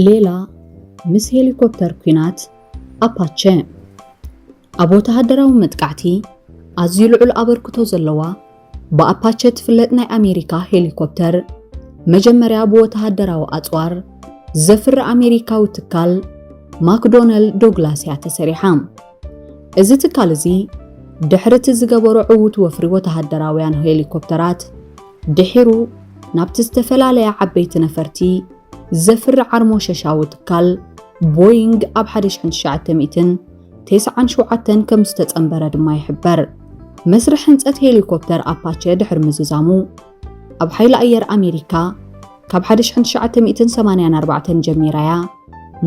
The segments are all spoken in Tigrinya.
ሌላ ምስ ሄሊኮፕተር ኲናት ኣፓቸ ኣብ ወተሃደራዊ መጥቃዕቲ ኣዝዩ ልዑል ኣበርክቶ ዘለዋ ብኣፓቸ ትፍለጥ ናይ ኣሜሪካ ሄሊኮፕተር መጀመርያ ብወተሃደራዊ ኣጽዋር ዘፍሪ ኣሜሪካዊ ትካል ማክዶነል ዶግላስ እያ ተሰሪሓ። እዚ ትካል እዚ ድሕሪ እቲ ዝገበሮ ዕዉት ወፍሪ ወተሃደራውያን ሄሊኮፕተራት ድሒሩ ናብቲ ዝተፈላለያ ዓበይቲ ነፈርቲ ዘፍሪ ዓርሞሸሻዊ ትካል ቦይንግ ኣብ 1997 ከም ዝተጸንበረ ድማ ይሕበር። መስርሕ ህንጸት ሄሊኮፕተር ኣፓቸ ድሕሪ ምዝዛሙ ኣብ ሓይሊ ኣየር ኣሜሪካ ካብ 1984 ጀሚራ እያ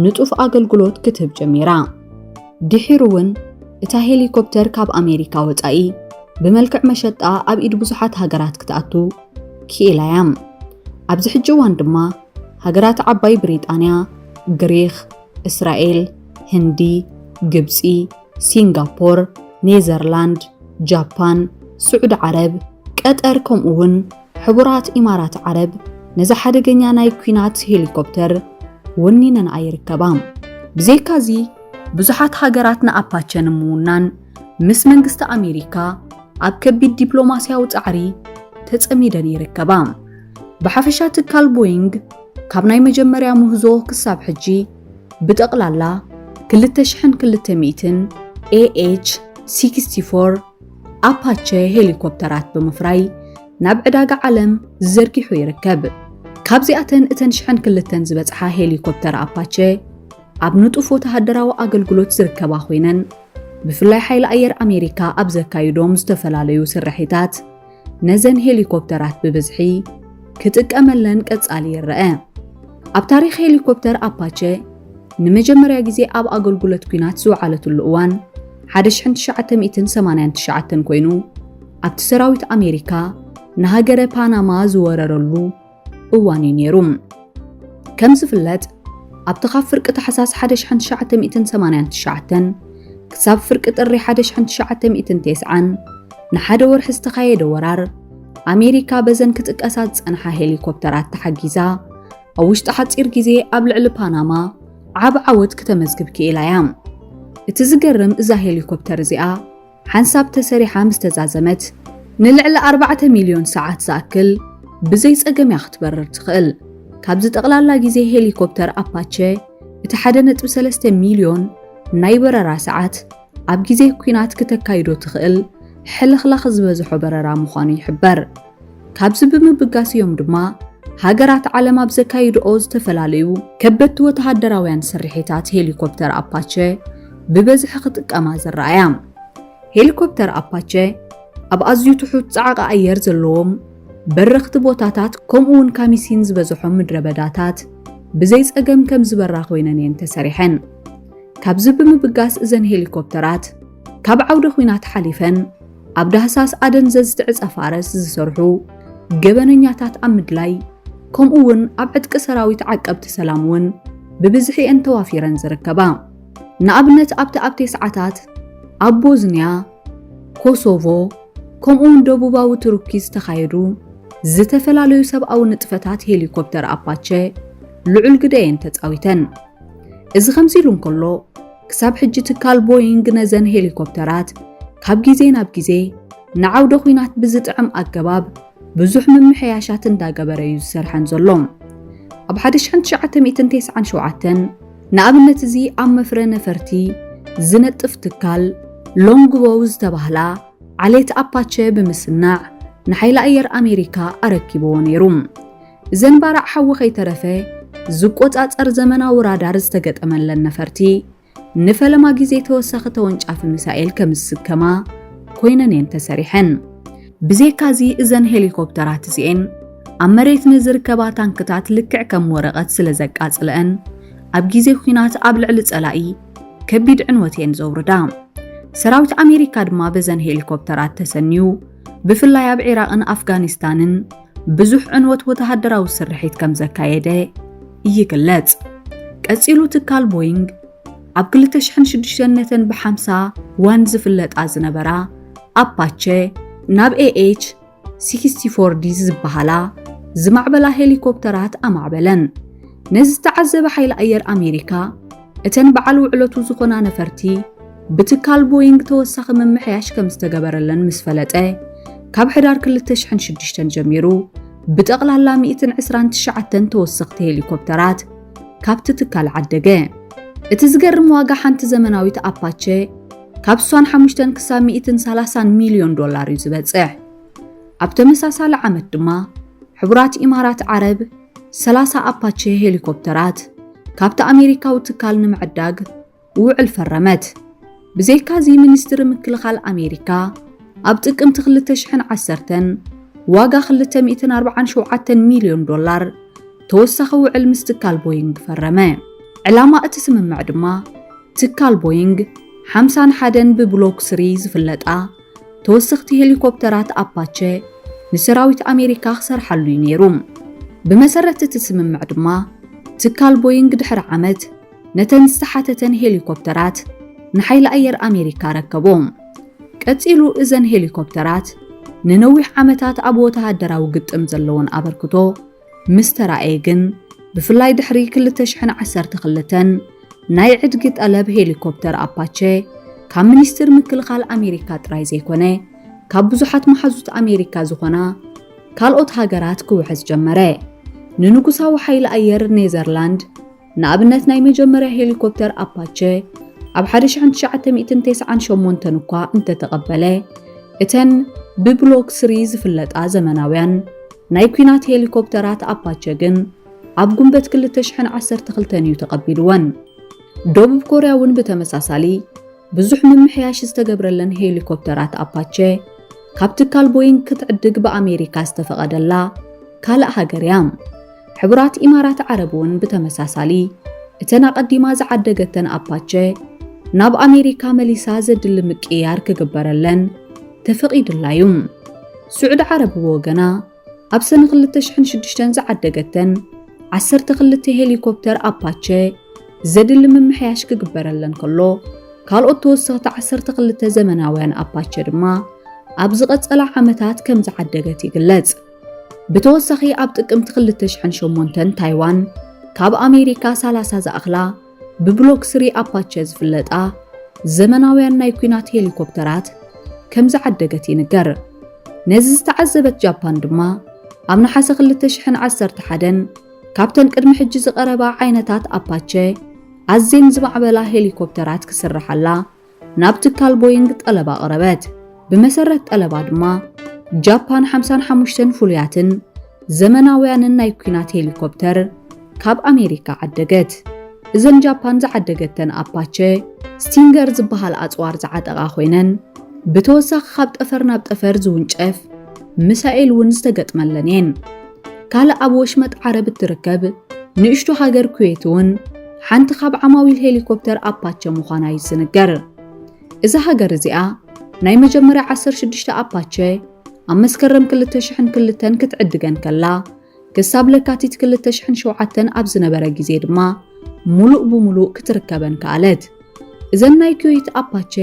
ንጡፍ ኣገልግሎት ክትህብ ጀሚራ። ድሒሩ እውን እታ ሄሊኮፕተር ካብ ኣሜሪካ ወጻኢ ብመልክዕ መሸጣ ኣብ ኢድ ብዙሓት ሃገራት ክትኣቱ ክኢላ'ያ። ኣብዚ ሕጂ እዋን ድማ ሃገራት ዓባይ ብሪጣንያ፣ ግሪኽ፣ እስራኤል፣ ህንዲ፣ ግብጺ፣ ሲንጋፖር፣ ኔዘርላንድ፣ ጃፓን፣ ስዑዲ ዓረብ፣ ቀጠር ከምኡ'ውን ሕቡራት ኢማራት ዓረብ ነዛ ሓደገኛ ናይ ኲናት ሄሊኮፕተር ወኒነንኣ ይርከባ። ብዘይካ'ዚ ብዙሓት ሃገራት ንኣፓቸ ንምውናን፣ ምስ መንግስቲ ኣሜሪካ ኣብ ከቢድ ዲፕሎማስያዊ ጻዕሪ ተጸሚደን ይርከባ። ብሓፈሻ ትካል ቦይንግ ካብ ናይ መጀመርያ ምህዞ ክሳብ ሕጂ ብጠቕላላ 2002 AH 64 ኣፓቸ ሄሊኮፕተራት ብምፍራይ ናብ ዕዳጋ ዓለም ዘርጊሑ ይርከብ። ካብዚኣተን እተን ሽሕን ክልተን ዝበጽሓ ሄሊኮፕተር ኣፓቸ ኣብ ንጡፍ ወተሃደራዊ ኣገልግሎት ዝርከባ ኮይነን ብፍላይ ሓይሊ ኣየር ኣሜሪካ ኣብ ዘካይዶም ዝተፈላለዩ ስርሒታት ነዘን ሄሊኮፕተራት ብብዝሒ ክጥቀመለን ቀጻሊ ይረአ። ኣብ ታሪኽ ሄሊኮፕተር ኣፓቸ ንመጀመርያ ግዜ ኣብ ኣገልግሎት ኲናት ዝወዓለትሉ እዋን 1989 ኮይኑ ኣብቲ ሰራዊት ኣሜሪካ ንሃገረ ፓናማ ዝወረረሉ እዋን እዩ ነይሩ። ከም ዝፍለጥ ኣብቲ ካብ ፍርቂ ታሕሳስ 1989 ክሳብ ፍርቂ ጥሪ 1990 ንሓደ ወርሒ ዝተኻየደ ወራር ኣሜሪካ በዘን ክጥቀሳ ዝጸንሓ ሄሊኮፕተራት ተሓጊዛ ኣብ ውሽጢ ሓጺር ግዜ ኣብ ልዕሊ ፓናማ ዓብ ዓወት ክተመዝግብ ክኢላ እያ። እቲ ዝገርም እዛ ሄሊኮፕተር እዚኣ ሓንሳብ ተሰሪሓ ምስ ተዛዘመት ንልዕሊ ኣርባዕተ ሚልዮን ሰዓት ዝኣክል ብዘይ ጸገም እያ ክትበርር ትኽእል። ካብዚ ጠቕላላ ግዜ ሄሊኮፕተር ኣፓቸ እቲ 1.3 ሚልዮን ናይ በረራ ሰዓት ኣብ ግዜ ኲናት ክተካይዶ ትኽእል ሕልኽላኽ ዝበዝሖ በረራ ምዃኑ ይሕበር። ካብዚ ብምብጋስ እዮም ድማ ሃገራት ዓለም ኣብ ዘካይድኦ ዝተፈላለዩ ከበድቲ ወተሃደራውያን ስርሒታት ሄሊኮፕተር ኣፓቸ ብበዝሒ ክጥቀማ ዝረኣያ። ሄሊኮፕተር ኣፓቸ ኣብ ኣዝዩ ትሑት ጻዕቂ ኣየር ዘለዎም በረኽቲ ቦታታት ከምኡውን ካሚሲን ዝበዝሖም ምድረበዳታት ብዘይ ጸገም ከም ዝበራ ኮይነን እየን ተሰሪሐን። ካብዚ ብምብጋስ እዘን ሄሊኮፕተራት ካብ ዓውደ ኹናት ሓሊፈን ኣብ ዳህሳስ ኣደንዘዝ ትዕጸ ፋረስ ዝሰርሑ ገበነኛታት ኣብ ምድላይ ከምኡ እውን ኣብ ዕጥቂ ሰራዊት ዓቀብቲ ሰላም እውን ብብዝሒ እየን ተዋፊረን ዝርከባ። ንኣብነት ኣብቲ ኣብ ቴስዓታት ኣብ ቦዝንያ፣ ኮሶቮ ከምኡውን ደቡባዊ ቱርኪ ዝተኻየዱ ዝተፈላለዩ ሰብኣዊ ንጥፈታት ሄሊኮፕተር ኣፓቸ ልዑል ግደ እየን ተጻዊተን። እዚ ከምዚ ኢሉ እንከሎ ክሳብ ሕጂ ትካል ቦይንግ ነዘን ሄሊኮፕተራት ካብ ግዜ ናብ ግዜ ንዓውደ ኲናት ብዝጥዕም ኣገባብ ብዙሕ ምምሕያሻት እንዳገበረ እዩ ዝሰርሐን ዘሎ። ኣብ 1997 ንኣብነት እዚ ኣብ መፍረ ነፈርቲ ዝነጥፍ ትካል ሎንግቦው ዝተባህላ ዓሌት ኣፓቸ ብምስናዕ ንሓይሊ ኣየር ኣሜሪካ ኣረኪብዎ ነይሩ። ዘንባራዕ ሓዊ ከይተረፈ ዝቆጻጸር ዘመናዊ ራዳር ዝተገጠመለን ነፈርቲ ንፈለማ ግዜ ተወሳኺ ተወንጫፊ ሚሳኤል ከም ዝስከማ ኮይነን እየን ተሰሪሐን። ብዘይካ እዚ እዘን ሄሊኮፕተራት እዚኤን ኣብ መሬት ንዝርከባ ታንክታት ልክዕ ከም ወረቐት ስለ ዘቃጽለአን ኣብ ግዜ ኲናት ኣብ ልዕሊ ጸላኢ ከቢድ ዕንወት እየን ዘውርዳ። ሰራዊት ኣሜሪካ ድማ በዘን ሄሊኮፕተራት ተሰንዩ ብፍላይ ኣብ ዒራቕን ኣፍጋኒስታንን ብዙሕ ዕንወት ወተሃደራዊ ስርሒት ከም ዘካየደ ይግለጽ። ቀጺሉ ትካል ቦይንግ ኣብ 2006 ነተን ብ50 ዋን ዝፍለጣ ዝነበራ ኣፓቸ ናብ ኤኤች 64 ዲ ዝበሃላ ዝማዕበላ ሄሊኮፕተራት ኣማዕበለን። ነዚ ዝተዓዘበ ሓይሊ ኣየር ኣሜሪካ እተን በዓል ውዕለቱ ዝኾና ነፈርቲ ብትካል ቦይንግ ተወሳኺ ምምሕያሽ ከም ዝተገበረለን ምስ ፈለጠ ካብ ሕዳር 2006 ጀሚሩ ብጠቕላላ 129 ተወሰኽቲ ሄሊኮፕተራት ካብቲ ትካል ዓደገ። እቲ ዝገርም ዋጋ ሓንቲ ዘመናዊት ኣፓቸ ካብ 65 ክሳብ 130 ሚልዮን ዶላር እዩ ዝበጽሕ። ኣብ ተመሳሳሊ ዓመት ድማ ሕቡራት ኢማራት ዓረብ ሰላሳ ኣፓቼ ሄሊኮፕተራት ካብቲ ኣሜሪካዊ ትካል ንምዕዳግ ውዕል ፈረመት። ብዘይካዚ ሚኒስትሪ ምክልኻል ኣሜሪካ ኣብ ጥቅምቲ 2010 ዋጋ 247 ሚልዮን ዶላር ተወሳኺ ውዕል ምስ ትካል ቦይንግ ፈረመ። ዕላማ እቲ ስምምዕ ድማ ትካል ቦይንግ ሓምሳን ሓደን ብብሎክ ስሪ ዝፍለጣ ተወሰኽቲ ሄሊኮፕተራት ኣፓቸ ንሰራዊት ኣሜሪካ ክሰርሓሉ እዩ ነይሩ። ብመሰረት እቲ ስምምዕ ድማ ትካል ቦይንግ ድሕሪ ዓመት ነተን ዝተሓተተን ሄሊኮፕተራት ንሓይሊ ኣየር ኣሜሪካ ኣረከቦም። ቀጺሉ እዘን ሄሊኮፕተራት ንነዊሕ ዓመታት ኣብ ወተሃደራዊ ግጥም ዘለወን ኣበርክቶ ምስ ተራእየ ግን ብፍላይ ድሕሪ 2012 ናይ ዕድጊ ጠለብ ሄሊኮፕተር ኣፓቸ ካብ ሚኒስትር ምክልኻል ኣሜሪካ ጥራይ ዘይኮነ ካብ ብዙሓት መሓዙት ኣሜሪካ ዝኾና ካልኦት ሃገራት ክውሕዝ ጀመረ። ንንጉሳዊ ሓይሊ ኣየር ኔዘርላንድ ንኣብነት ናይ መጀመርያ ሄሊኮፕተር ኣፓቸ ኣብ ሓደ ሽሕን ትሽዓተ ሚእትን ተስዓን ሸሞንተን እኳ እንተተቐበለ፣ እተን ብብሎክ ስሪ ዝፍለጣ ዘመናውያን ናይ ኲናት ሄሊኮፕተራት ኣፓቸ ግን ኣብ ጉንበት ክልተ ሽሕን ዓሰርተ ክልተን እዩ ተቐቢሉወን። ደቡብ ኮርያ እውን ብተመሳሳሊ፣ ብዙሕ ምምሕያሽ ዝተገብረለን ሄሊኮፕተራት ኣፓቸ ካብ ትካል ቦይንግ ክትዕድግ ብኣሜሪካ ዝተፈቐደላ ካልእ ሃገር እያ። ሕቡራት ኢማራት ዓረብ እውን ብተመሳሳሊ እተን ኣቐዲማ ዝዓደገተን ኣፓቸ ናብ ኣሜሪካ መሊሳ ዘድሊ ምቅይያር ክግበረለን ተፈቒዱላ እዩ። ስዑዲ ዓረብ ብወገና ኣብ ሰነ 2006 ዝዓደገተን ዓሰርተ ክልተ ሄሊኮፕተር ኣፓቸ ዘድሊ ምምሕያሽ ክግበረለን ከሎ ካልኦት ተወሰኽቲ ዓሰርተ ክልተ ዘመናውያን ኣፓቸ ድማ ኣብ ዝቐጸላ ዓመታት ከም ዝዓደገት ይግለጽ። ብተወሳኺ ኣብ ጥቅምቲ 2008 ታይዋን ካብ ኣሜሪካ 30 ዝኣኽላ ብብሎክ ስሪ ኣፓቸ ዝፍለጣ ዘመናውያን ናይ ኲናት ሄሊኮፕተራት ከም ዝዓደገት ይንገር። ነዚ ዝተዓዘበት ጃፓን ድማ ኣብ ነሓሰ 2011 ካብተን ቅድሚ ሕጂ ዝቐረባ ዓይነታት ኣፓቸ ኣዝየን ዝማዕበላ ሄሊኮፕተራት ክስርሓላ ናብ ትካል ቦይንግ ጠለብ ኣቕረበት። ብመሰረት ጠለባ ድማ ጃፓን 55 ፍሉያትን ዘመናውያንን ናይ ኲናት ሄሊኮፕተር ካብ ኣሜሪካ ዓደገት። እዘን ጃፓን ዝዓደገተን ኣፓቸ ስቲንገር ዝበሃል ኣጽዋር ዝዓጠቓ ኮይነን ብተወሳኺ ካብ ጠፈር ናብ ጠፈር ዝውንጨፍ ምሳኤል እውን ዝተገጥመለን እየን። ካልእ ኣብ ወሽመጥ ዓረብ እትርከብ ንእሽቶ ሃገር ኩዌት እውን ሓንቲ ካብ ዓማዊል ሄሊኮፕተር ኣፓቸ ምዃና እዩ ዝንገር። እዛ ሃገር እዚኣ ናይ መጀመርያ 16 ኣፓቸ ኣብ መስከረም 2002 ክትዕድገን ከላ ክሳብ ለካቲት 2007 ኣብ ዝነበረ ግዜ ድማ ሙሉእ ብሙሉእ ክትርከበን ከኣለት። እዘን ናይ ኩዌት ኣፓቸ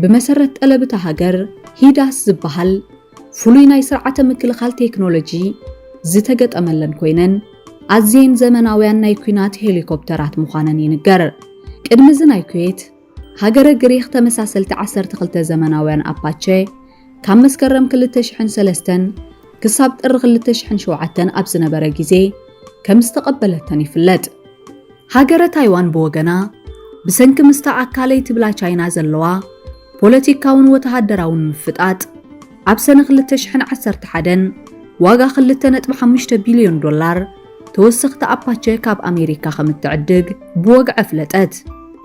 ብመሰረት ጠለብ እታ ሃገር ሂዳስ ዝበሃል ፍሉይ ናይ ስርዓተ ምክልኻል ቴክኖሎጂ ዝተገጠመለን ኮይነን ኣዝየን ዘመናውያን ናይ ኲናት ሄሊኮፕተራት ምዃነን ይንገር። ቅድሚ እዚ ናይ ኩዌት፣ ሃገረ ግሪኽ ተመሳሰልቲ ዓሰርተ ክልተ ዘመናውያን ኣፓቸ ካብ መስከረም ክልተ ሽሕን ሰለስተን ክሳብ ጥሪ ክልተ ሽሕን ሸውዓተን ኣብ ዝነበረ ግዜ ከም ዝተቐበለተን ይፍለጥ። ሃገረ ታይዋን ብወገና፣ ብሰንኪ ምስታ ኣካለይ ትብላ ቻይና ዘለዋ ፖለቲካውን ወተሃደራውን ምፍጣጥ፣ ኣብ ሰነ ክልተ ሽሕን ዓሰርተ ሓደን ዋጋ ክልተ ነጥቢ ሓሙሽተ ቢልዮን ዶላር ተወሰኽቲ ኣፓቸ ካብ ኣሜሪካ ከም እትዕድግ ብወግዒ ኣፍለጠት።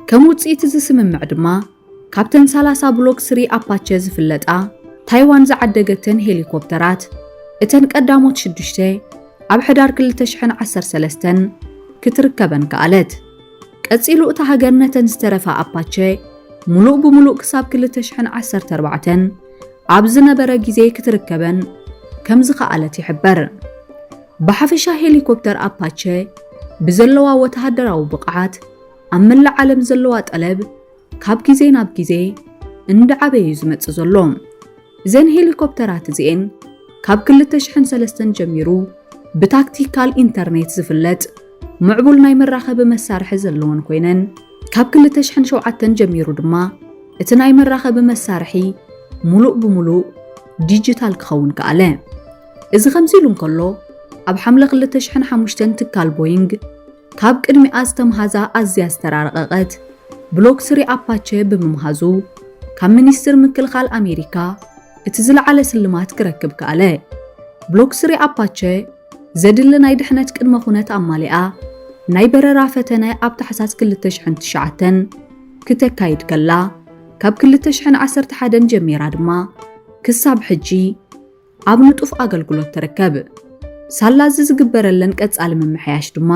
ከም ውጽኢት እዚ ስምምዕ ድማ፣ ካብተን ሰላሳ ብሎክ ስሪ ኣፓቸ ዝፍለጣ ታይዋን ዝዓደገተን ሄሊኮፕተራት እተን ቀዳሞት ሽዱሽተ ኣብ ሕዳር ክልተ ሽሕን ዓሰርተ ሰለስተን ክትርከበን ከኣለት። ቀጺሉ እታ ሃገር ነተን ዝተረፋ ኣፓቸ ምሉእ ብምሉእ ክሳብ ክልተ ሽሕን ዓሰርተ ኣርባዕተን ኣብ ዝነበረ ግዜ ክትርከበን ከም ዝኸኣለት ይሕበር። ብሓፈሻ ሄሊኮፕተር ኣፓቸ ብዘለዋ ወተሃደራዊ ብቕዓት፣ ኣብ መላእ ዓለም ዘለዋ ጠለብ ካብ ግዜ ናብ ግዜ እንዳዓበዩ ዝመጽእ ዘሎ እዘን ሄሊኮፕተራት እዚኤን ካብ 2003 ጀሚሩ ብታክቲካል ኢንተርኔት ዝፍለጥ ምዕቡል ናይ መራኸቢ መሳርሒ ዘለወን ኮይነን ካብ 2007 ጀሚሩ ድማ እቲ ናይ መራኸቢ መሳርሒ ሙሉእ ብሙሉእ ዲጂታል ክኸውን ከኣለ። እዚ ከምዚ ኢሉ እንከሎ ኣብ ሓምለ 2005 ትካል ቦይንግ ካብ ቅድሚኣ ዝተምሃዛ ኣዝያ ዝተራረቐቐት ብሎክ ስሪ ኣፓቸ ብምምሃዙ ካብ ሚኒስትር ምክልኻል ኣሜሪካ እቲ ዝለዓለ ስልማት ክረክብ ከኣለ። ብሎክ ስሪ ኣፓቸ ዘድሊ ናይ ድሕነት ቅድመ ኩነት ኣማሊኣ ናይ በረራ ፈተነ ኣብ ታሕሳስ 2009 ክተካይድ ከላ ካብ 2011 ጀሚራ ድማ ክሳብ ሕጂ ኣብ ንጡፍ ኣገልግሎት ትርከብ። ሳላ እዚ ዝግበረለን ቀጻሊ ምምሕያሽ ድማ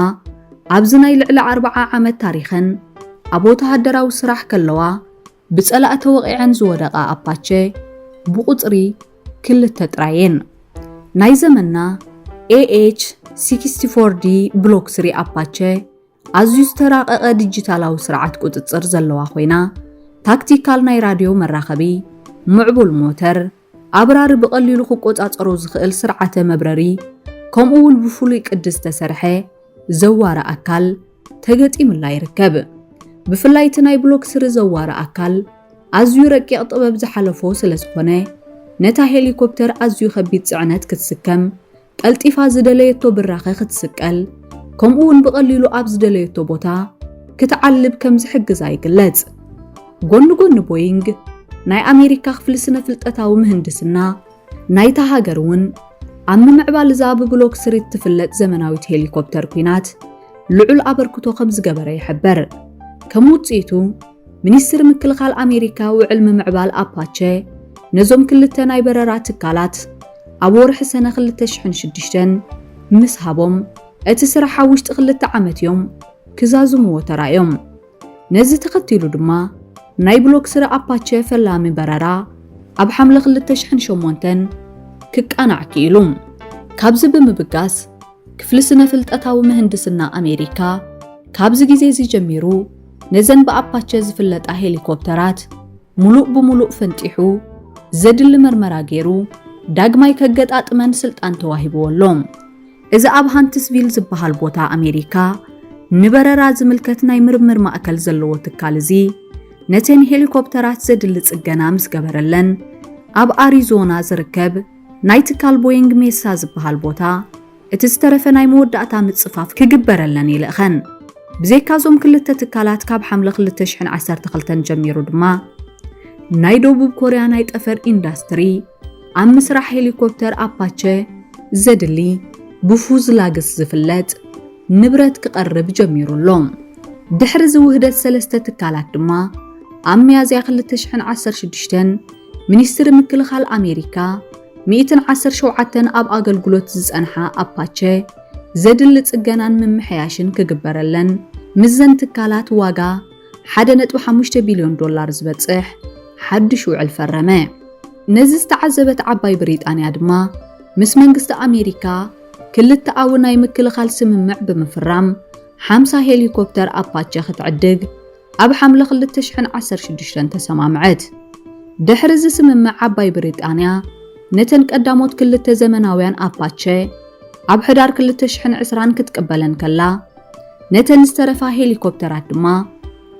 ኣብዚ ናይ ልዕሊ ኣርብዓ ዓመት ታሪኸን ኣብ ወተሃደራዊ ስራሕ ከለዋ ብጸላኢ ተወቒዐን ዝወደቓ ኣፓቸ ብቑጽሪ ክልተ ጥራይ'የን። ናይ ዘመንና ኤኤች ሲክስቲ ፎር ዲ ብሎክ ስሪ ኣፓቸ ኣዝዩ ዝተራቐቐ ዲጂታላዊ ስርዓት ቁጽጽር ዘለዋ ኮይና ታክቲካል ናይ ራድዮ መራኸቢ፣ ምዕቡል ሞተር፣ ኣብራሪ ብቐሊሉ ክቆጻጸሮ ዝኽእል ስርዓተ መብረሪ ከምኡ እውን ብፍሉይ ቅዲ ዝተሰርሐ ዘዋሪ ኣካል ተገጢምላ ይርከብ። ብፍላይ እቲ ናይ ብሎክ ስሪ ዘዋሪ ኣካል ኣዝዩ ረቂቕ ጥበብ ዝሓለፎ ስለዝኾነ ነታ ሄሊኮፕተር ኣዝዩ ከቢድ ጽዕነት ክትስከም ቀልጢፋ ዝደለየቶ ብራኸ ክትስቀል ከምኡ'ውን ብቐሊሉ ኣብ ዝደለየቶ ቦታ ክትዓልብ ከም ዝሕግዛ ይግለጽ። ጎኒ ጎኒ ቦይንግ፣ ናይ ኣሜሪካ ክፍሊ ስነ-ፍልጠታዊ ምህንድስና ናይታ ሃገር እውን ኣብ ምምዕባል እዛ ብብሎክ ስሪ እትፍለጥ ዘመናዊት ሄሊኮፕተር ኲናት ልዑል ኣበርክቶ ከም ዝገበረ ይሕበር። ከም ውጽኢቱ ሚኒስትሪ ምክልኻል ኣሜሪካ ውዕል ምምዕባል ኣፓቸ ነዞም ክልተ ናይ በረራ ትካላት ኣብ ወርሒ ሰነ 2006 ምስ ሃቦም እቲ ስራሕ ኣብ ውሽጢ ክልተ ዓመት እዮም ክዛዝምዎ ተራእዮም። ነዚ ተኸቲሉ ድማ ናይ ብሎክ ስረ ኣፓቸ ፈላሚ በረራ ኣብ ሓምለ 2008 ክቃናዕ ክኢሉ። ካብዚ ብምብጋስ ክፍሊ ስነ-ፍልጠታዊ ምህንድስና ኣሜሪካ ካብዚ ግዜ እዚ ጀሚሩ ነዘን ብኣፓቸ ዝፍለጣ ሄሊኮፕተራት ሙሉእ ብሙሉእ ፈንጢሑ ዘድሊ መርመራ ገይሩ ዳግማይ ከገጣጥመን ስልጣን ተዋሂብዎ ኣሎ። እዚ ኣብ ሃንትስቪል ዝበሃል ቦታ ኣሜሪካ ንበረራ ዝምልከት ናይ ምርምር ማእከል ዘለዎ ትካል እዚ ነተን ሄሊኮፕተራት ዘድሊ ጽገና ምስ ገበረለን ኣብ ኣሪዞና ዝርከብ ናይ ትካል ቦይንግ ሜሳ ዝበሃል ቦታ እቲ ዝተረፈ ናይ መወዳእታ ምጽፋፍ ክግበረለን ይልእኸን። ብዘይካ እዞም ክልተ ትካላት ካብ ሓምለ 2012 ጀሚሩ ድማ ናይ ደቡብ ኮርያ ናይ ጠፈር ኢንዳስትሪ ኣብ ምስራሕ ሄሊኮፕተር ኣፓቸ ዘድሊ ብፉዝላግስ ዝፍለጥ ንብረት ክቐርብ ጀሚሩ ኣሎ። ድሕሪ እዚ ውህደት ሰለስተ ትካላት ድማ ኣብ ሚያዝያ 2016 ሚኒስትሪ ምክልኻል ኣሜሪካ፣ ሚእትን ዓሰርተ ሸውዓተን ኣብ ኣገልግሎት ዝጸንሓ ኣፓቸ ዘድሊ ጽገናን ምምሕያሽን ክግበረለን ምስዘን ትካላት ዋጋ ሓደ ነጥቢ ሓሙሽተ ቢልዮን ዶላር ዝበጽሕ ሓድሽ ውዕል ፈረመ። ነዚ ዝተዓዘበት ዓባይ ብሪጣንያ ድማ ምስ መንግስቲ ኣሜሪካ ክልተኣዊ ናይ ምክልኻል ስምምዕ ብምፍራም ሓምሳ ሄሊኮፕተር ኣፓቸ ክትዕድግ ኣብ ሓምለ ክልተ ሽሕን ዓሰርተ ሽዱሽተን ተሰማምዐት። ድሕሪ እዚ ስምምዕ ዓባይ ብሪጣንያ ነተን ቀዳሞት ክልተ ዘመናውያን ኣፓቸ ኣብ ሕዳር ክልተ ሽሕን ዕስራን ክትቅበለን ከላ ነተን ዝተረፋ ሄሊኮፕተራት ድማ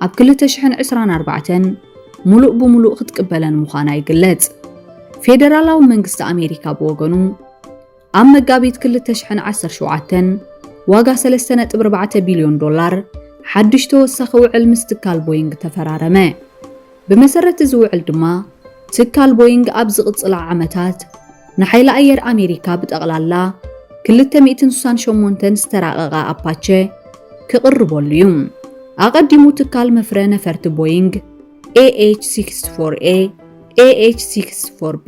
ኣብ ክልተ ሽሕን ዕስራን ኣርባዕተን ሙሉእ ብሙሉእ ክትቅበለን ምዃና ይግለጽ። ፌደራላዊ መንግስቲ ኣሜሪካ ብወገኑ ኣብ መጋቢት ክልተ ሽሕን ዓሰርተ ሸውዓተን ዋጋ ሰለስተ ነጥቢ ኣርባዕተ ቢልዮን ዶላር ሓድሽ ተወሳኺ ውዕል ምስ ትካል ቦይንግ ተፈራረመ። ብመሰረት እዚ ውዕል ድማ ትካል ቦይንግ ኣብ ዝቕጽላ ዓመታት ንሓይሊ ኣየር ኣሜሪካ ብጠቕላላ ክልተ ሚእትን ስሳን ሸሞንተን ዝተራቐቓ ኣፓቸ ክቕርበሉ እዩ። ኣቐዲሙ ትካል መፍረ ነፈርቲ ቦይንግ AH64A፣ AH64B፣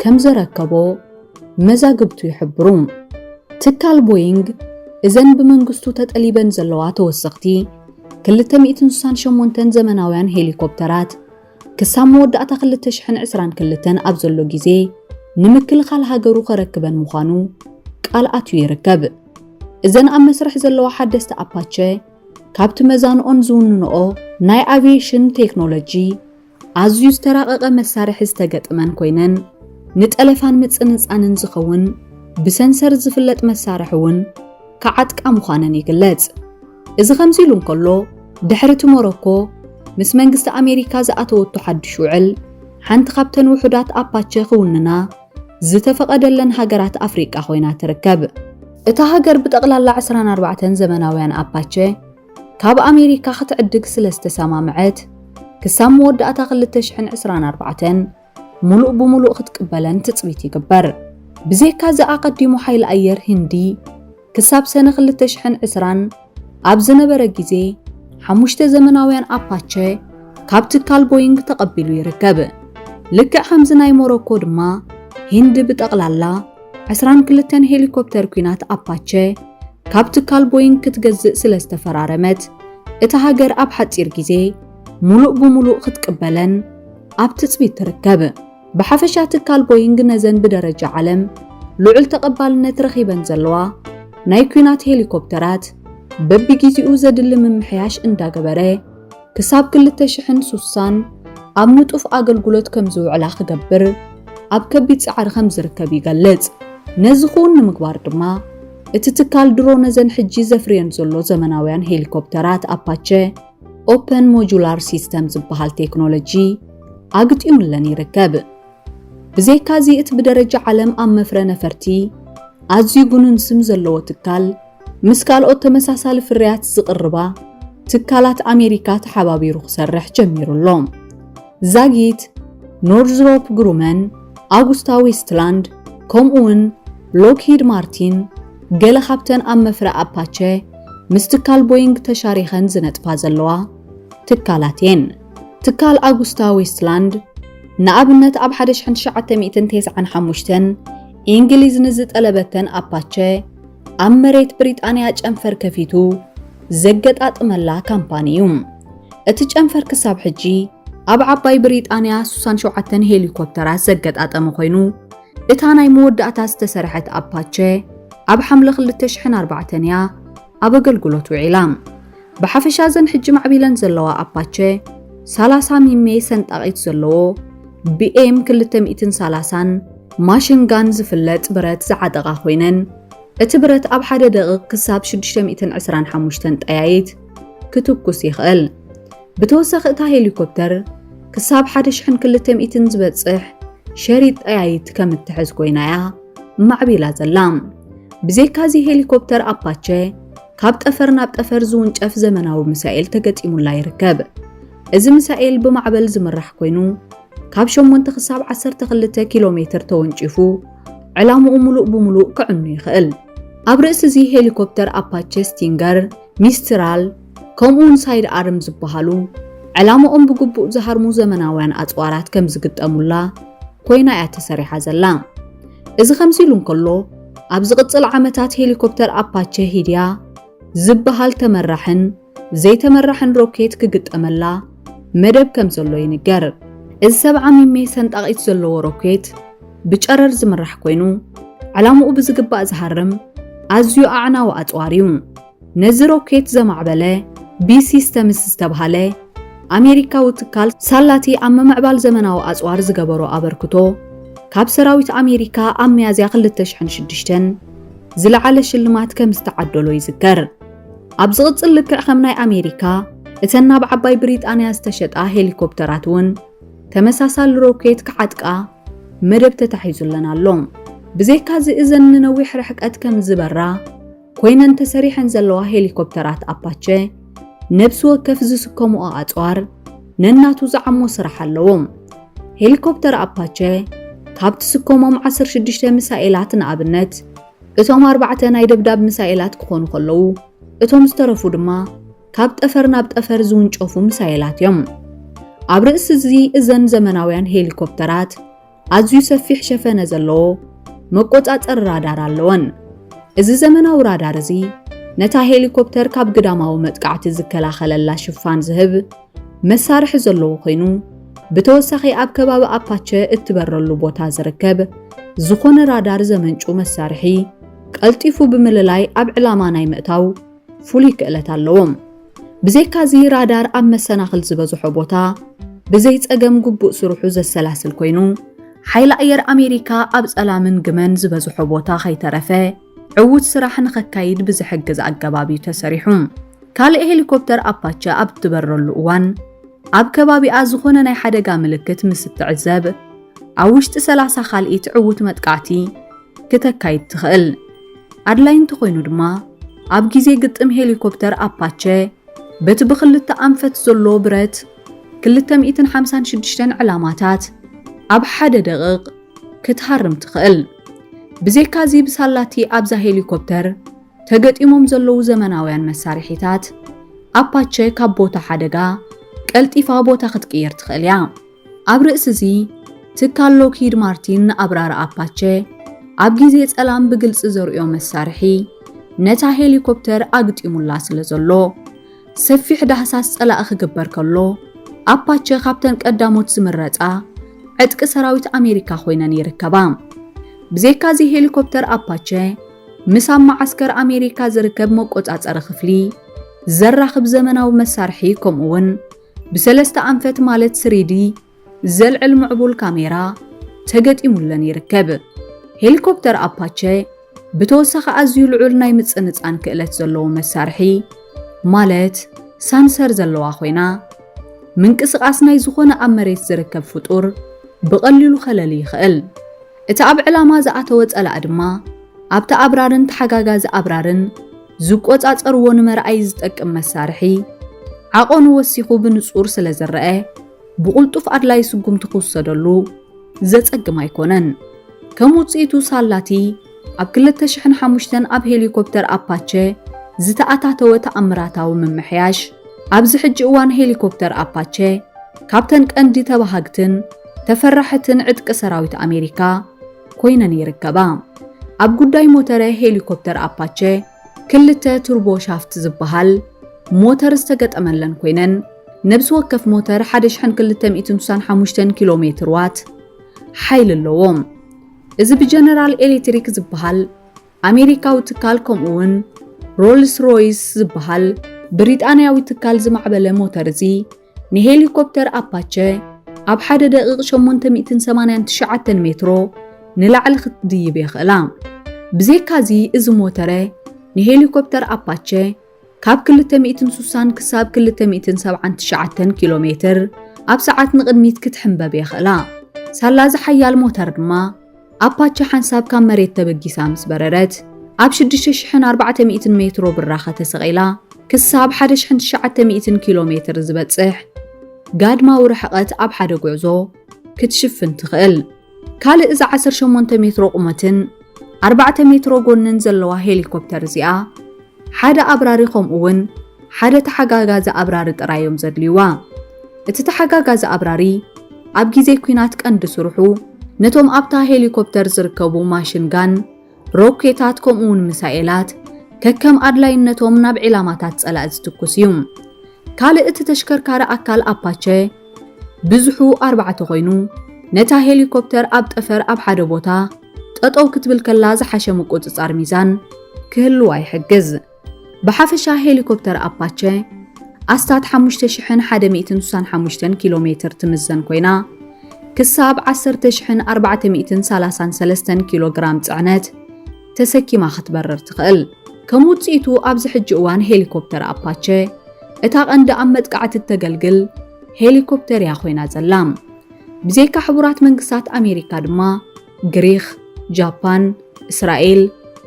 ከም ዘረከቦ መዛግብቱ ይሕብሩ። ትካል ቦይንግ እዘን ብመንግስቱ ተጠሊበን ዘለዋ ተወሰኽቲ ክልተ ሚእትን ስሳን ሸሞንተን ዘመናውያን ሄሊኮፕተራት ክሳብ መወዳእታ ክልተ ሽሕን ዕስራን ክልተን ኣብ ዘሎ ግዜ ንምክልኻል ሃገሩ ከረክበን ምዃኑ ቃል ኣትዩ ይርከብ። እዘን ኣብ መስርሕ ዘለዋ ሓደስቲ ኣፓቸ ካብቲ መዛንኦን ዝውንንኦ ናይ ኣቪየሽን ቴክኖሎጂ ኣዝዩ ዝተራቐቐ መሳርሒ ዝተገጥመን ኮይነን ንጠለፋን ምጽንጻንን ዝኸውን ብሰንሰር ዝፍለጥ መሳርሒ እውን ክዓጥቃ ምዃነን ይግለጽ። እዚ ከምዚ ኢሉ እንከሎ ድሕሪ እቲ ሞሮኮ ምስ መንግስቲ ኣሜሪካ ዝኣተወቶ ሓድሽ ውዕል ሓንቲ ካብተን ውሑዳት ኣፓቸ ክውንና ዝተፈቐደለን ሃገራት ኣፍሪቃ ኮይና ትርከብ። እታ ሃገር ብጠቕላላ ዕስራን ኣርባዕተን ዘመናውያን ኣፓቸ፣ ካብ ኣሜሪካ ክትዕድግ ስለ ዝተሰማምዐት ክሳብ መወዳእታ ክልተ ሽሕን ዕስራን ኣርባዕተን ሙሉእ ብሙሉእ ክትቅበለን ትጽቢት ይግበር። ብዘይካ እዚ ኣቐዲሙ ሓይሊ ኣየር ህንዲ ክሳብ ሰነ ክልተ ሽሕን ዕስራን ኣብ ዝነበረ ግዜ ሓሙሽተ ዘመናውያን ኣፓቸ ካብ ትካል ቦይንግ ተቐቢሉ ይርከብ። ልክዕ ከምዚ ናይ ሞሮኮ ድማ ሂንዲ ብጠቕላላ ዕስራን ክልተን ሄሊኮፕተር ኲናት ኣፓቸ ካብ ትካል ቦይንግ ክትገዝእ ስለ ዝተፈራረመት እታ ሃገር ኣብ ሓጺር ግዜ ሙሉእ ብሙሉእ ክትቅበለን ኣብ ትጽቢት ትርከብ። ብሓፈሻ ትካል ቦይንግ ነዘን ብደረጃ ዓለም ልዑል ተቐባልነት ረኺበን ዘለዋ ናይ ኲናት ሄሊኮፕተራት በቢግዜኡ ዘድሊ ምምሕያሽ እንዳገበረ ክሳብ ክልተ ሽሕን ሱሳን ኣብ ንጡፍ ኣገልግሎት ከም ዝውዕላ ክገብር ኣብ ከቢድ ጻዕሪ ከም ዝርከብ ይገልጽ። ነዚ ክውን ንምግባር ድማ እቲ ትካል ድሮ ነዘን ሕጂ ዘፍርየን ዘሎ ዘመናውያን ሄሊኮፕተራት ኣፓቸ ኦፐን ሞጁላር ሲስተም ዝበሃል ቴክኖሎጂ ኣግጢሙለን ይርከብ። ብዘይካዚ እቲ ብደረጃ ዓለም ኣብ መፍረ ነፈርቲ ኣዝዩ ግኑን ስም ዘለዎ ትካል ምስ ካልኦት ተመሳሳሊ ፍርያት ዝቕርባ ትካላት ኣሜሪካ ተሓባቢሩ ክሰርሕ ጀሚሩ ኣሎ። ዛጊት፣ ኖርዝሮፕ ግሩመን፣ ኣጉስታ ዌስትላንድ ከምኡውን ሎክሂድ ማርቲን ገለ ካብተን ኣብ መፍረ ኣፓቸ ምስ ትካል ቦይንግ ተሻሪኸን ዝነጥፋ ዘለዋ ትካላት እየን። ትካል ኣጉስታ ዌስትላንድ ንኣብነት ኣብ 1995 እንግሊዝ ንዝጠለበተን ኣፓቸ ኣብ መሬት ብሪጣንያ ጨንፈር ከፊቱ ዘገጣጥመላ ካምፓኒ እዩ። እቲ ጨንፈር ክሳብ ሕጂ ኣብ ዓባይ ብሪጣንያ 67 ሄሊኮፕተራት ዘገጣጠመ ኮይኑ እታ ናይ መወዳእታ ዝተሰርሐት ኣፓቸ ኣብ ሓምለ 2004 እያ ኣብ ኣገልግሎት ውዒላ። ብሓፈሻ ዘን ሕጂ ማዕቢለን ዘለዋ ኣፓቸ 30 ሚሜ ሰንጣቒት ዘለዎ ብኤም 230 ማሽን ጋን ዝፍለጥ ብረት ዝዓጠቓ ኮይነን፣ እቲ ብረት ኣብ ሓደ ደቒቕ ክሳብ 625 ጠያይት ክትኩስ ይኽእል። ብተወሳኺ እታ ሄሊኮፕተር ክሳብ 1,200 ዝበጽሕ ሸሪጥ ጠያይት ከም እትሕዝ ኮይና እያ ማዕቢላ ዘላ። ብዘይካ እዚ ሄሊኮፕተር ኣፓቸ ካብ ጠፈር ናብ ጠፈር ዝውንጨፍ ዘመናዊ ሚሳኤል ተገጢሙላ ይርከብ። እዚ ሚሳኤል ብማዕበል ዝምራሕ ኮይኑ ካብ 8 ክሳብ 12 ኪሎ ሜትር ተወንጪፉ ዕላምኡ ሙሉእ ብሙሉእ ክዕኑ ይኽእል። ኣብ ርእሲ እዚ ሄሊኮፕተር ኣፓቼ ስቲንገር፣ ሚስትራል ከምኡውን ሳይድ ኣርም ዝበሃሉ ዕላምኦም ብግቡእ ዝሃርሙ ዘመናውያን ኣጽዋራት ከም ዝግጠሙላ ኮይና እያ ተሰሪሓ ዘላ። እዚ ከምዚ ኢሉ እንከሎ ኣብ ዝቕጽል ዓመታት ሄሊኮፕተር ኣፓቼ ሂድያ ዝበሃል ተመራሕን ዘይተመራሕን ሮኬት ክግጠመላ መደብ ከም ዘሎ ይንገር። እዚ 70 ሚሜ ሰንጣቒት ዘለዎ ሮኬት ብጨረር ዝምራሕ ኮይኑ ዕላምኡ ብዝግባእ ዝሃርም ኣዝዩ ኣዕናዊ ኣጽዋር እዩ። ነዚ ሮኬት ዘማዕበለ ቢ ሲስተምስ ዝተብሃለ ኣሜሪካዊ ትካል ሳላቲ ኣብ ምምዕባል ዘመናዊ ኣጽዋር ዝገበሮ ኣበርክቶ ካብ ሰራዊት ኣሜሪካ ኣብ ሚያዝያ 2006 ዝለዓለ ሽልማት ከም ዝተዓደሎ ይዝከር። ኣብ ዝቕጽል ልክዕ ከም ናይ ኣሜሪካ እተን ናብ ዓባይ ብሪጣንያ ዝተሸጣ ሄሊኮፕተራት እውን ተመሳሳሊ ሮኬት ክዓጥቃ መደብ ተታሒዙለን ኣሎ። ብዘይካዚ እዘን ንነዊሕ ርሕቀት ከም ዝበራ ኮይነን ተሰሪሐን ዘለዋ ሄሊኮፕተራት ኣፓቸ ነብሲ ወከፍ ዝስከምኦ ኣጽዋር ነናቱ ዝዓሞ ስራሕ ኣለዎም። ሄሊኮፕተር ኣፓቸ ካብ ትስከሞም 16 ሚሳኤላት ንኣብነት እቶም ኣርባዕተ ናይ ደብዳብ ምሳኤላት ክኾኑ ከለዉ እቶም ዝተረፉ ድማ ካብ ጠፈር ናብ ጠፈር ዝውንጨፉ ምሳኤላት እዮም። ኣብ ርእሲ እዚ እዘን ዘመናውያን ሄሊኮፕተራት ኣዝዩ ሰፊሕ ሸፈነ ዘለዎ መቆጻጸሪ ራዳር ኣለወን። እዚ ዘመናዊ ራዳር እዚ ነታ ሄሊኮፕተር ካብ ግዳማዊ መጥቃዕቲ ዝከላኸለላ ሽፋን ዝህብ መሳርሒ ዘለዎ ኮይኑ ብተወሳኺ ኣብ ከባቢ ኣፓቸ እትበረሉ ቦታ ዝርከብ ዝኾነ ራዳር ዘመንጩ መሳርሒ ቀልጢፉ ብምልላይ ኣብ ዕላማ ናይ ምእታው ፍሉይ ክእለት ኣለዎም። ብዘይካዚ ራዳር ኣብ መሰናኽል ዝበዝሖ ቦታ ብዘይ ጸገም ግቡእ ስርሑ ዘሰላስል ኮይኑ ሓይሊ ኣየር ኣሜሪካ ኣብ ጸላምን ግመን ዝበዝሖ ቦታ ከይተረፈ ዕዉት ስራሕ ንኸካይድ ብዝሕግዝ ኣገባብ እዩ ተሰሪሑ። ካልእ ሄሊኮፕተር ኣፓቸ ኣብ እትበረሉ እዋን ኣብ ከባቢኣ ዝኾነ ናይ ሓደጋ ምልክት ምስ እትዕዘብ ኣብ ውሽጢ 30 ካልኢት ዕዉት መጥቃዕቲ ክተካይድ ትኽእል። ኣድላይ እንተኾይኑ ድማ ኣብ ግዜ ግጥም ሄሊኮፕተር ኣፓቸ በቲ ብክልተ ኣንፈት ዘሎ ብረት 256 ዕላማታት ኣብ ሓደ ደቕቕ ክትሃርም ትኽእል። ብዘይካዚ ብሳላቲ ኣብዛ ሄሊኮፕተር ተገጢሞም ዘለዉ ዘመናውያን መሳርሒታት፣ ኣፓቸ ካብ ቦታ ሓደጋ ቀልጢፋ ቦታ ክትቅይር ትኽእል እያ። ኣብ ርእሲዚ፣ ትካል ሎክሂድ ማርቲን ንኣብራሪ ኣፓቸ ኣብ ግዜ ጸላም ብግልጺ ዘርእዮ መሳርሒ ነታ ሄሊኮፕተር ኣግጢሙላ ስለዘሎ፣ ሰፊሕ ዳህሳስ ጸላኢ ክግበር ከሎ፣ ኣፓቸ ካብተን ቀዳሞት ዝምረጻ ዕጥቂ ሰራዊት ኣሜሪካ ኮይነን ይርከባ። ብዘይካዚ ሄሊኮፕተር ኣፓቸ ምስ ኣብ መዓስከር ኣሜሪካ ዝርከብ መቆጻጸሪ ክፍሊ ዘራኽብ ዘመናዊ መሳርሒ ከምኡ'ውን ብሰለስተ ኣንፈት ማለት ስሪዲ ዘልዕል ምዕቡል ካሜራ ተገጢሙለን ይርከብ። ሄሊኮፕተር ኣፓቸ ብተወሳኺ ኣዝዩ ልዑል ናይ ምጽንጻን ክእለት ዘለዎ መሳርሒ ማለት ሳንሰር ዘለዋ ኮይና ምንቅስቓስ ናይ ዝኾነ ኣብ መሬት ዝርከብ ፍጡር ብቐሊሉ ከለሊ ይኽእል። እቲ ኣብ ዕላማ ዝኣተወ ጸላእ ድማ ኣብቲ ኣብራርን ተሓጋጋዚ ኣብራርን ዝቆጻጸርዎ ንመርኣዪ ዝጠቅም መሳርሒ ዓቐኑ ወሲኹ ብንጹር ስለ ዝረኣ ብቕልጡፍ ኣድላይ ስጉምቲ ክውሰደሉ ዘጸግም ኣይኮነን። ከም ውጽኢቱ ሳላቲ ኣብ 2005 ኣብ ሄሊኮፕተር ኣፓቸ ዝተኣታተወ ተኣምራታዊ ምምሕያሽ፣ ኣብዚ ሕጂ እዋን ሄሊኮፕተር ኣፓቸ ካብተን ቀንዲ ተባሃግትን ተፈራሕትን ዕጥቂ ሰራዊት ኣሜሪካ ኮይነን ይርከባ። ኣብ ጉዳይ ሞተረ ሄሊኮፕተር ኣፓቸ ክልተ ቱርቦ ሻፍት ዝበሃል ሞተር ዝተገጠመለን ኮይነን ነብሲ ወከፍ ሞተር ሓደ ሽሕን ክልተ ሚእትን ስሳን ሓሙሽተን ኪሎ ሜትር ዋት ሓይሊ ኣለዎም። እዚ ብጀነራል ኤሌክትሪክ ዝበሃል ኣሜሪካዊ ትካል ከምኡ'ውን ሮልስ ሮይስ ዝበሃል ብሪጣንያዊ ትካል ዝማዕበለ ሞተር እዚ፣ ንሄሊኮፕተር ኣፓቸ ኣብ ሓደ ደቒቕ 889 ሜትሮ ንላዕሊ ክትድይብ የኽእላ። ብዘይካዚ እዚ ሞተረ ንሄሊኮፕተር ኣፓቸ ካብ 260 ክሳብ 279 ኪሎ ሜትር ኣብ ሰዓት ንቕድሚት ክትሕምበብ የኽእላ። ሳላ እዚ ሓያል ሞተር ድማ፣ ኣፓቸ ሓንሳብ ካብ መሬት ተበጊሳ ምስ በረረት፣ ኣብ ሽዱሽተ ሽሕን ኣርባዕተ ሚእትን ሜትሮ ብራኸ ተሰቒላ ክሳብ ሓደ ሽሕን ትሽዓተ ሚእትን ኪሎ ሜትር ዝበጽሕ ጋድማዊ ርሕቐት ኣብ ሓደ ጉዕዞ ክትሽፍን ትኽእል። ካልእ እዛ ዓሰርተ ሸሞንተ ሜትሮ ቁመትን ኣርባዕተ ሜትሮ ጎንን ዘለዋ ሄሊኮፕተር እዚኣ፣ ሓደ ኣብራሪ ከምኡ'ውን ሓደ ተሓጋጋዚ ኣብራሪ ጥራይ እዮም ዘድልዩዋ። እቲ ተሓጋጋዚ ኣብራሪ ኣብ ግዜ ኲናት ቀንዲ ስርሑ ነቶም ኣብታ ሄሊኮፕተር ዝርከቡ ማሽን ጋን፣ ሮኬታት ከምኡ'ውን ሚሳኤላት ከከም ኣድላይነቶም ናብ ዒላማታት ጸላኢ ዝትኩስ እዩ። ካልእ እቲ ተሽከርካሪ ኣካል ኣፓቸ ብዝሑ ኣርባዕተ ኮይኑ ነታ ሄሊኮፕተር ኣብ ጠፈር ኣብ ሓደ ቦታ ጠጠው ክትብል ከላ ዝሓሸ ምቁጽጻር ሚዛን ክህልዋ ይሕግዝ። ብሓፈሻ ሄሊኮፕተር ኣፓቸ ኣስታት 5165 ኪሎ ሜትር ትምዘን ኮይና ክሳብ 10433 ኪሎ ግራም ጽዕነት ተሰኪማ ክትበርር ትኽእል። ከም ውጽኢቱ ኣብዚ ሕጂ እዋን ሄሊኮፕተር ኣፓቸ እታ ቀንዲ ኣብ መጥቃዕቲ እተገልግል ሄሊኮፕተር እያ ኮይና ዘላ። ብዘይካ ሕቡራት መንግስታት ኣሜሪካ ድማ ግሪኽ፣ ጃፓን፣ እስራኤል፣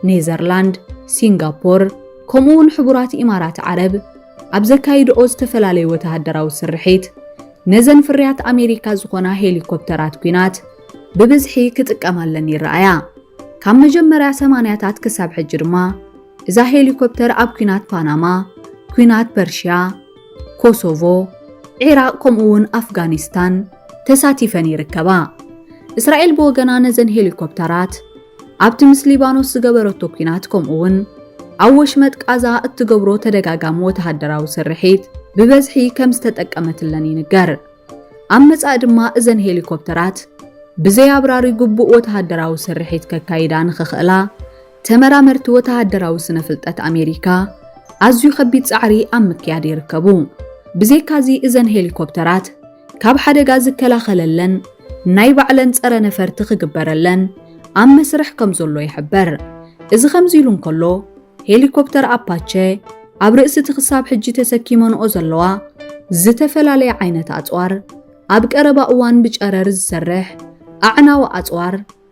ኔዘርላንድ፣ ሲንጋፖር ከምኡ እውን ሕቡራት ኢማራት ዓረብ ኣብ ዘካይድኦ ዝተፈላለዩ ወተሃደራዊ ስርሒት ነዘን ፍርያት ኣሜሪካ ዝኾና ሄሊኮፕተራት ኲናት ብብዝሒ ክጥቀማለን ይረኣያ። ካብ መጀመርያ ሰማንያታት ክሳብ ሕጂ ድማ እዛ ሄሊኮፕተር ኣብ ኲናት ፓናማ፣ ኲናት ፐርሺያ፣ ኮሶቮ፣ ዒራቕ ከምኡ'ውን ኣፍጋኒስታን ተሳቲፈን ይርከባ። እስራኤል ብወገና ነዘን ሄሊኮፕተራት ኣብቲ ምስ ሊባኖስ ዝገበረቶ ኲናት ከምኡ'ውን ኣብ ወሽመጥ ቃዛ እትገብሮ ተደጋጋሚ ወተሃደራዊ ስርሒት ብበዝሒ ከም ዝተጠቀመትለን ይንገር። ኣብ መጻኢ ድማ እዘን ሄሊኮፕተራት ብዘይ ኣብራሪ ግቡእ ወተሃደራዊ ስርሒት ከካይዳ ንኽኽእላ ተመራመርቲ ወተሃደራዊ ስነ-ፍልጠት ኣሜሪካ ኣዝዩ ከቢድ ጻዕሪ ኣብ ምክያድ ይርከቡ። ብዘይካዚ እዘን ሄሊኮፕተራት ካብ ሓደጋ ዝከላኸለለን ናይ ባዕለን ጸረ ነፈርቲ ክግበረለን ኣብ መስርሕ ከም ዘሎ ይሕበር። እዚ ከምዚ ኢሉ እንከሎ ሄሊኮፕተር ኣፓቸ ኣብ ርእሲ እቲ ክሳብ ሕጂ ተሰኪመንኦ ዘለዋ ዝተፈላለየ ዓይነት ኣጽዋር ኣብ ቀረባ እዋን ብጨረር ዝሰርሕ ኣዕናዊ ኣጽዋር